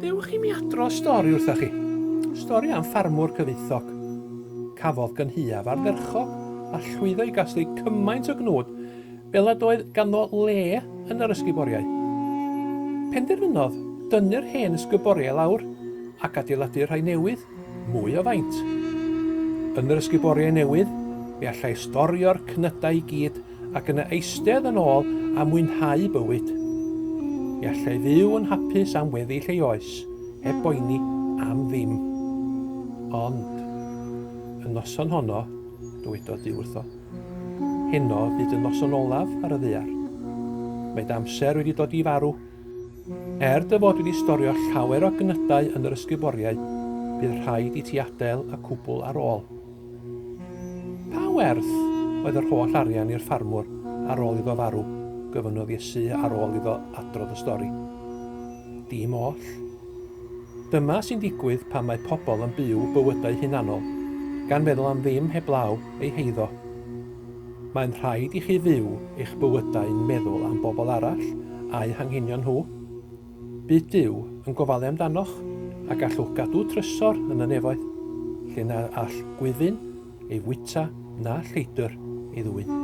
Gadewch i mi adro stori wrthoch chi. Stori am ffarmwr cyfoethog. Cafodd gynhuaf ardderchog a llwyddo i gasglu cymaint o gnwd fel nad oedd ganddo le yn yr ysguboriau. Penderfynodd dynnu'r hen ysguboriau lawr ac adeiladu rhai newydd. Mwy o faint. Yn yr ysgub oriau newydd, mi allai storio'r cnydau i gyd ac yna eistedd yn ôl a mwynhau bywyd. Mi allai fyw yn hapus am weddill ei oes, heb boeni am ddim. Ond, y noson honno, dywedodd Duw wrtho, heno fydd dy noson olaf ar y ddaear. Mae dy amser wedi dod i farw. Er dy fod wedi storio llawer o gnydau yn yr ysguboriau, bydd rhaid i ti adael y cwbl ar ôl. Pa werth oedd yr holl arian i'r ffarmwr ar ôl iddo farw? gofynnodd Iesu ar ôl iddo adrodd y stori. Dim oll. Dyma sy'n digwydd pan mae pobl yn byw bywydau hunanol, gan feddwl am ddim heblaw eu heiddo. Mae'n rhaid i chi fyw eich bywydau'n meddwl am bobl arall a'u hanghenion nhw. Bydd Duw yn gofalu amdanoch a gallwch gadw trysor yn y nefoedd, lle na all gwyfyn ei fwyta na lleidr ei ddwyn.